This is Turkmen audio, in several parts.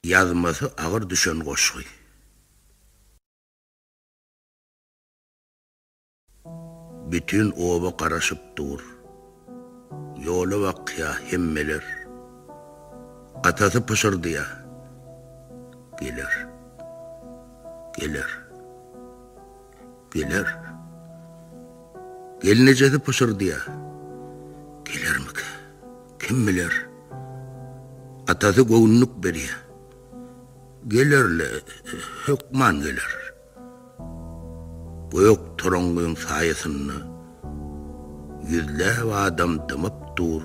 Ýazmasy agyr düşen goşgy. Bütin oba garaşyp dur. Ýola bakýa hemmeler. Atasy pyşyrdýa. Geler. Geler. Geler. Gelnejesi pyşyrdýar. Gelermikä? Kim biler? Atasy göwünlik berýär. Geler-le, hökman geler. Gök toraňňyň saýasynda ýüzläp adam dymyp dur.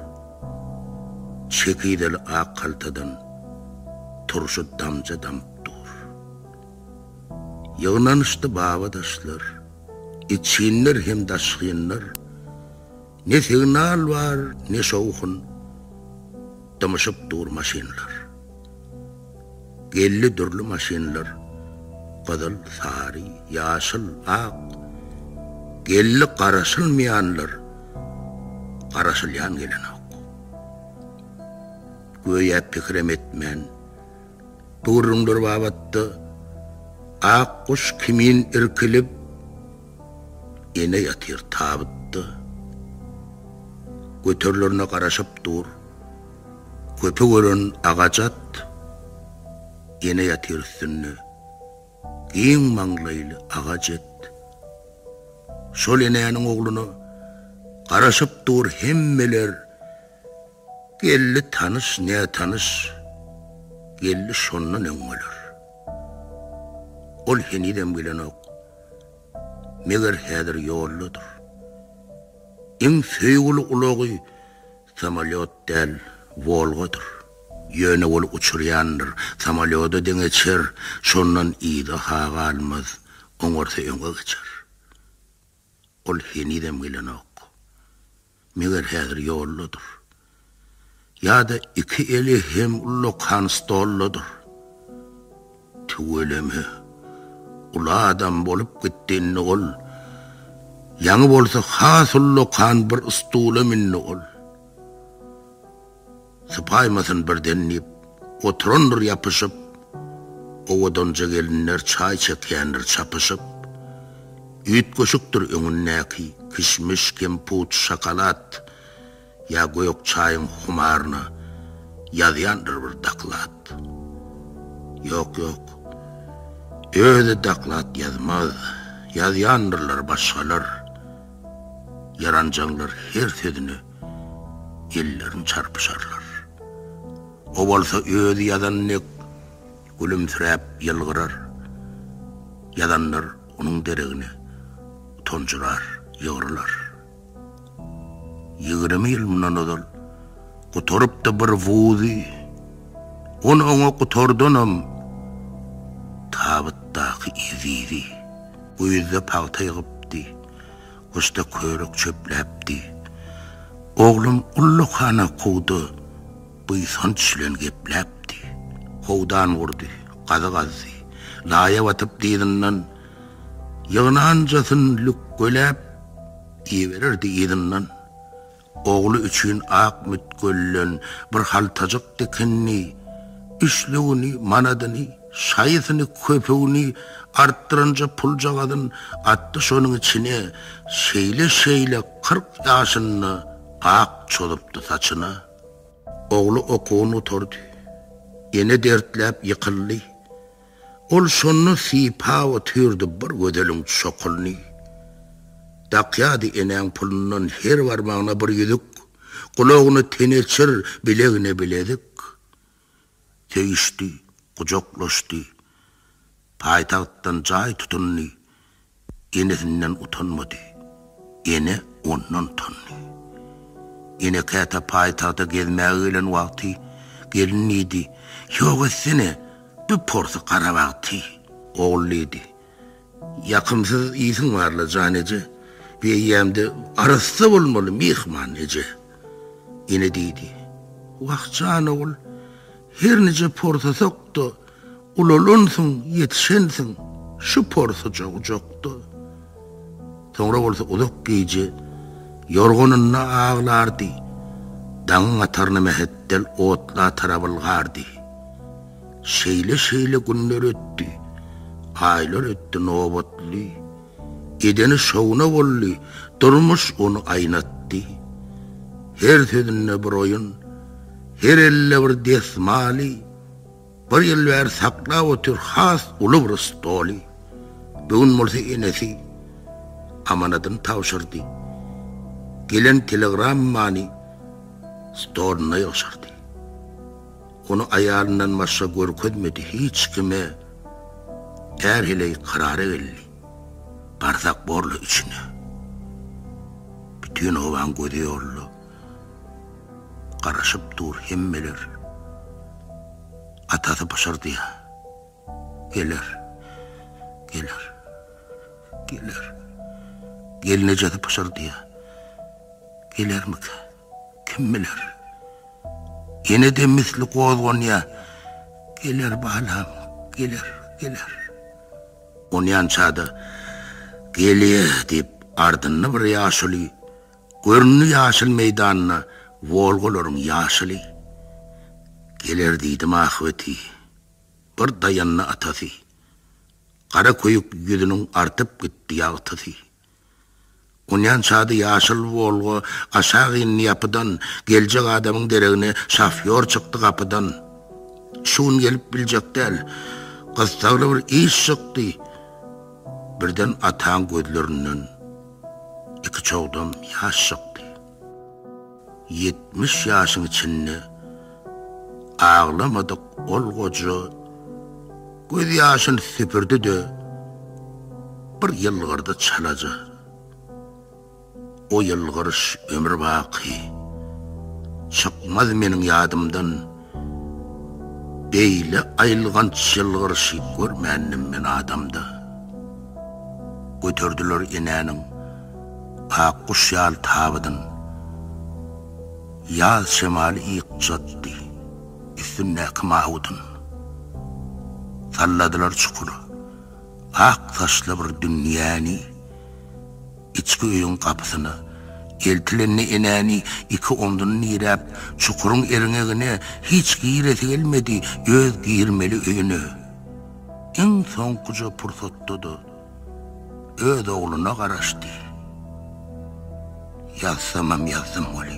Çekizeli ak haltadan turşy damja damyp dur. Ýygnanyşdy babadaşlar, içginler hem daşgynlar, Ne signal bar, ne şowhun, dymyşyp dur maşynlar. Geldi dürli maşynlar, gyzyl, sary, ýaşyl, ak, Geldi garaşylmaýanlar, garaşylýan gelenok. Göýä pikirem etmän. gürrüňler babatda ak guş kimin irkilip, ene ýatyr tabytda. Göterilerine garaşyp dur, köpük ören agaç at, ene ýatyr üstünde giň maňlaýly aga jet. Şol enäniň ogluna garaşyp dur hemmeler. Geldi tanyş, nätanyş geldi şondan öň bolar. Ol henizem gelenok. Meger häzir ýoldadyr. Iň söýgüli ulagy samolýot däl, Wolgadyr. Ýöne ol uçurýandyr, samolýoda deňeçer, şondan yza-ha galmaz, oňarsa öňe geçer. Ol henizem gelenok. Meger häzir ýoldadyr. Ýa-da iki eli hem ullakan stoldadyr. Tüweleme, uly adam bolup gitdi indi ol. Ýaňy bolsa has ullakan bir stula mündi ol. Sypaýmasyn birden diýip, oturandyr ýapyşyp, Owadanja gelinler çaý çekýändir çapyşyp. Üýtgeşikdir öňündäki, kişmiş, kemput, şokolad, Ýa gök çaýyň humaryna ýazýandyr bir doklad. Ýok, ýok, özi doklad ýazmaz, ýazýandyrlar başgalar, Ýaranjaňlar her sözüne Ellerim çarpyşarlar. O bolsa özi ýazan dek gülümsiräp ýylgyrar. Ýazanlar onuň deregine utanjyrar, ýygrylar. Ýigrimi ýyl mundan ozal gutarypdy bir wuzy. On oňa gutardanam tabytdaky ezizi. Güýzde pagta ýygypdy. Gusta körük çöpläpdi. Oglum ullukana kowda buýsanç bilen gepläpdi. Howdan gurdy, gazy gazdy. Laýa batyp dyzyndan ýygnanjasyn lükgeläp iberirdi yzyndan. Ogly üçin ak mütgölden bir haltajyk dikindi, üçlügini, manadyny, şaýysyny, köpügini artdyranja puljagazyn atdy şonuň içine, şeýle-şeýle kyrk ýaşynda ak çozupdy saçyna. Ogly okuwyny gutardy. Ene dertläp ýykyldy. Ol şonda sypap otyrdy bir gözeliň çokulyny. Dakýardy enäň pulundan her barmagyna bir ýüzük, gulagyna teneçir, bilegine bilezik. Söýüşdi, gujaklaşdy. Paýtagtdan jaý tutundy. Enesinden utanmady. Ene ondan utandy. Ene käte paýtagta gezmäge gelen wagty gelin diýdi, Ýok etsene, bir porsy garabag ty. Ogul diýdi, Ýakymsyz ýsiň bar-la, jan eje, bir eýýäm-de arassa bolmaly, myhman eje. Ene diýdi, Wah, jan ogul, her nije porsasak-da, Ulalansyň, ýetişensiň şu porsuja ujakda. Soňra bolsa uzak gije ýorganynda aglardy, daňyň ataryna mähetdel otla tarabylgardy. Şeýle-şeýle günler ötdi, aýlar ötdi nobatly. Edeni şowuna boldy, durmuş ony aýnatdy. Her sözünde bir oýun, her elde bir desmaly. Bir ýyl bäri saklap otyr has uly bir stoly. Bu gün bolsa enesi amanadyny tabşyrdy. Gelen telegrammany stoluna ýygşyrdy. Ony aýalyndan başga görkezmedi hiç kime. Är heleý karara geldi. Barsak borly üçine. Bütin obaň gözi ýolda. Garaşyp dur hemmeler. Atasy pyşyrdýar. Geler. Geler. Geler. Gelnejesi pyşyrdýar. Gelermika? Kim biler? Ýene de misli gozganýar. Geler balam, geler, geler. Onýança-da, Gelýär diýip, ardynda bir ýaşuly Göründi ýaşyl meýdanda Wolgalaryň ýaşyly. Geler diýdim ahbeti, bir daýandy atasy. Gara köýük ýüzüniň artyp gitdi ýagtysy. Onýan çady ýaşyl Wolga aşak indi ýapydan, geljek adamyň deregine şofýor çykdy gapydan. Şu gün gelip biljek däl, gyssagly bir iş çykdy. Birden ataň gözlerinden. iki çogdam ýaş çykdy. Ýetmiş ýaşyň içinde aglamadyk ol goja göz ýaşyny süpürdi-de, bir ýylgyrdy çalaja. O ýylgyryş ömür baky çykmaz meniň ýadymdan. Beýle aýylganç ýylgyryşy görmändim men adamda. Göterdiler enäniň ak guş ýaly tabydyn. Ýaz şemaly ýykjatdy üstündäki mawydyn. Salladylar çukur, ak saçly bir dünýäni. Içki öýüň gapysyna eltilende enäni iki omzuny diräp, çukuryň erňegine hiç giresi gelmedi, öz girmeli öýüne iň soňkuja pursatda-da öz ogluna garaşdy. Ýazsamam ýazdym weli.